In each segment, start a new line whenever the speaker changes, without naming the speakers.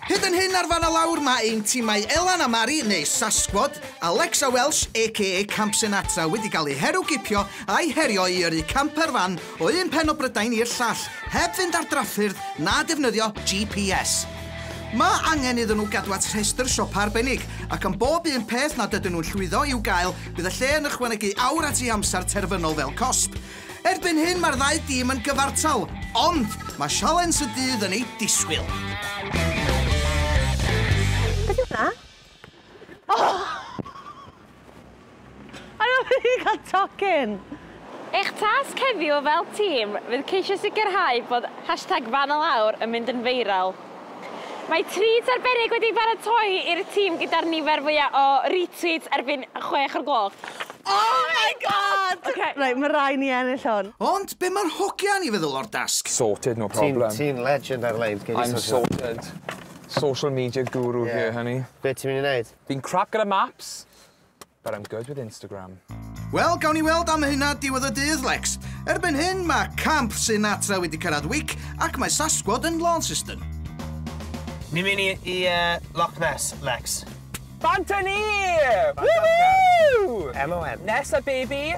Hyd yn hyn ar fan y lawr mae ein timau Elan a Mari neu Sasquad, Alexa Welsh aka Camp Sinatra wedi cael eu heru gipio a'i herio i yrru camper fan o un pen o Brydain i'r llall heb fynd ar drafffyrdd na defnyddio GPS. Mae angen iddyn nhw gadw at rhestr siopa arbennig ac am bob un peth nad ydyn nhw'n llwyddo i'w gael bydd y lle yn ychwanegu awr at ei amser terfynol fel cosb. Erbyn hyn mae'r ddau dîm yn gyfartal, ond mae sialens y dydd yn ei disgwyl.
Beth yw hwnna? Oh! Ar ôl i ni cael tocyn! Eich
tasg heddiw fel tîm fydd ceisio sicrhau bod hashtag fan y lawr yn mynd yn viral. Mae treats arbennig wedi ei baratoi i'r tîm gyda'r nifer fwya o retweets erbyn chwech o'r gloch. Oh my
God! Ok, reit, ma' rai' ni ennill hwn. Ond be ma'r hogia
yn 'i feddwl o'r dasg? Sorted, no problem. Ti'n
ti'n legend ar lein.
Gei di sortio fe. I'm sorted.
Social media guru here honey. Be' ti myn' i neud?
Fi'n crap gyda maps.
But I'm good with Instagram. Wel, gawn ni
weld am hynna diwedd y dydd, Lex. Erbyn hyn, mae Camp Sinatra wedi cyrraedd Wick ac mae Sasquad yn Launceston.
Ni'n mynd i, i uh, Loch Ness, Lex. Bant â ni!
Woohoo! MON. Nessa, baby!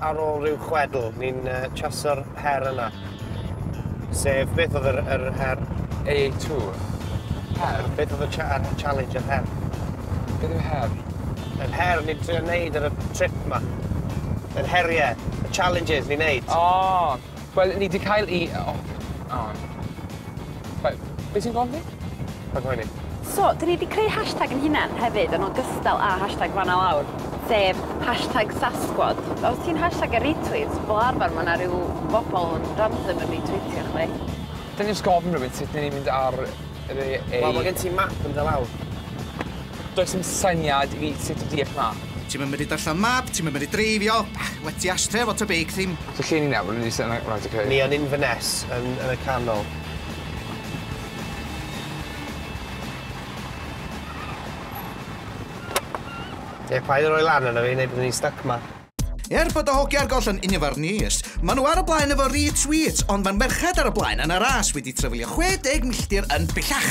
Ar ôl rhyw chwedl, ni'n uh, chaso'r her yna. Sef, beth oedd yr, yr her? AA2. Her?
Beth oedd y cha
challenge, yr her? Beth yw
her? Yr her
ni'n trio wneud ar y trip yma. Yr heriau, y challenges ni'n wneud. O! Oh. Wel,
ni 'di cael y- o, o. Wel, be' ti'n gofyn? Rhag poeni.
So, 'dyn ni 'di creu
hashtag 'yn hunan hefyd yn ogystal â hashtag fan a lawr, sef hashtag sasquad. Os ti'n hashtag a retweet, fel arfer ma' 'na ryw bobol yn random yn retweetio chdi. Dylwn i jyst gofyn
rywun sut 'dyn ni'n mynd ar re- ei-... Wel, ma'
gen ti map yn dy law. Does
dim syniad i fi sut i deall 'na. Ti'm yn medru darllen map,
ti'm yn medru dreifio, ych, well ti ashtray efo tŷ beic ddim. So lle ni nawr? Ni 'di
syn- reit ok. Ni yn Inverness,
yn yn y canol. Ie, paid a roi lan arno fi, neu byddwn ni'n styc 'ma. Er bod y hogia
ar goll yn Invernees, ma' nhw ar y blaen efo retweets, ond ma'r merched ar y blaen yn y ras wedi trafeilio 60 milltir yn bellach!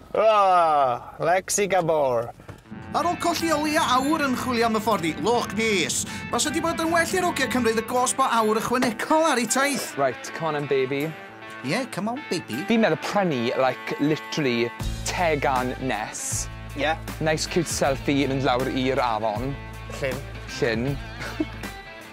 Aaahh! Lexi
Gabor! Ar ol colli
o leia awr yn chwilio am y ffordd i Loch Nes! Basa di bod yn well i'r ogia cymryd y gosb o awr ychwanegol ar eu taith! Right, come on 'en baby.
Ie, come on
baby. Fi'n meddwl prynu
like literally tegan nes. Ie. Nice
cute
selfie mynd lawr i'r afon. Llyn.
Llyn.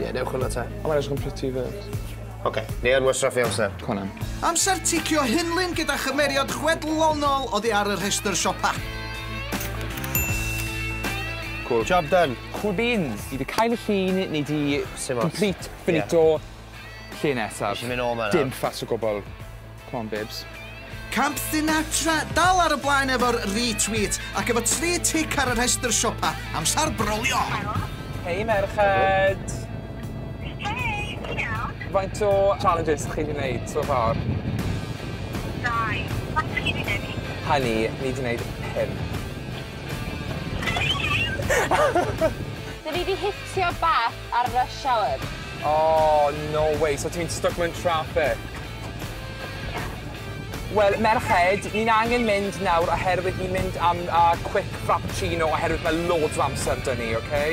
Ie,
newch hwnna te. A mae'n edrych yn pretty 'fyd.
Ok, ni yn
wastraffu amser. Go on 'en. Amser
ticio
hunlun gyda chymeriad chwedlonol oddi ar y rhestr siopa. Cŵl.
Job done. Cŵl
beans. Ti 'di
cael y llun neu ti... Sim ots. ...complete, finito. Lle nesa? Fi isie myn' nôl 'ma nawr. Dim fuss
o gwbwl.
Come on babes. Camp
Sinatra dal ar y blaen efo'r retweet ac efo tri tic ar y rhestr siopa. Amsar brolio! Hei
merched! Hei, ti'n
iawn? Faint o challenges
chi wedi wneud so far?
Dau. Faint chi wedi wneud? Honey, ni wedi
wneud pum. Dwi wedi
hitio bach Ar y rush hour. Oh,
no way, so ti'n stuck mewn traffic? Wel, merched, ni'n angen mynd nawr oherwydd ni'n mynd am a quick frappuccino oherwydd mae loads o amser dyn ni, oce?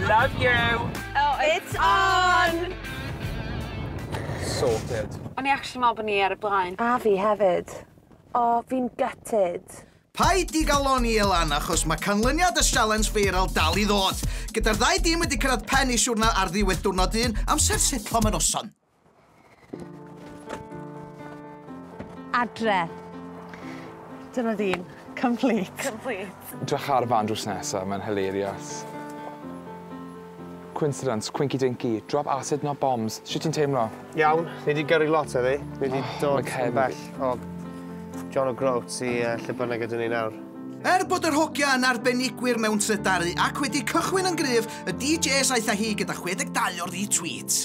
Love you! Oh, it's
on!
Sorted. O'n i actually me'wl bo' ni
ar y blaen. A fi hefyd.
Oh, fi'n gutted. Paid digalon
i Elan achos mae canlyniad y sialens feiral dal i ddod. Gyda'r ddau dîm wedi cyrraedd pen eu siwrna ar ddiwedd diwrnod un, amser setlo mae noson.
Adre. Dyna dîm. Complete. Complete. Dwech
ar fan drws nesa, mae'n hilarious. Coincidence, Quinky Dinky, Drop Acid Not Bombs, shwt ti'n teimlo? Iawn, ni 'di gyrru
lot heddi. Ni 'di dod yn bell o John O'Groats i lle bynnag ydyn ni nawr. Er bod yr hogia
yn arbenigwyr mewn trydaru ac wedi cychwyn yn gryf, y DJs aeth â hi gyda 62 o'r retweets.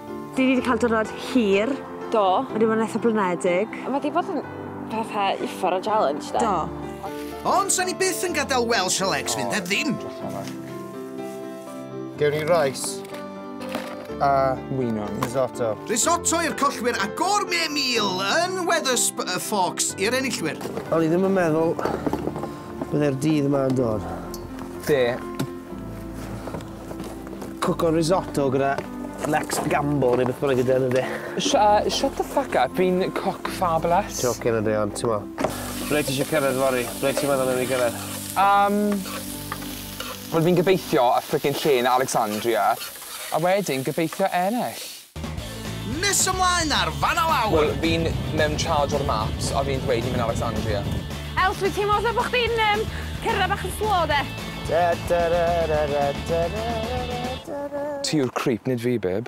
Dwi wedi cael
diwrnod hir. Do. Mae wedi bod
yn eitha
blinedig. Mae wedi bod yn
petha uffar o challenge de. Do. Ond
sa ni byth
yn gadael Welsh Alex fynd heb ddim.
Gewn ni rice a mwynon,
risotto. Risotto
i'r collwyr
a gourmet meal yn Weathersp y Forks i'r enillwyr. O'n i ddim yn meddwl
byddai'r dydd yma yn dod. Be? Cwco risotto gyda Lex Gamble neu beth bynnag ydy enw fe. Sh uh, shut the
fuck up, fi'n cook fabulous. Joking ydy ond, ti'n mo.
Ble ti eisiau cyrraedd fori? Ble ti'n meddwl yn ei gyrraedd? Um,
Wel fi'n gobeithio y frickin' lle yn Alexandria, a wedyn gobeithio ennill.
Nes ymlaen ar fan a lawr! Wel, fi'n mewn
charge o'r maps a fi'n dweud ni'n mynd Alexandria. Els, dwi teimlo
fel bo' chdi'n yym cerdded bach yn slow 'de.
Dadadadadadadadadadada. Ti yw'r creep, nid fi, babe.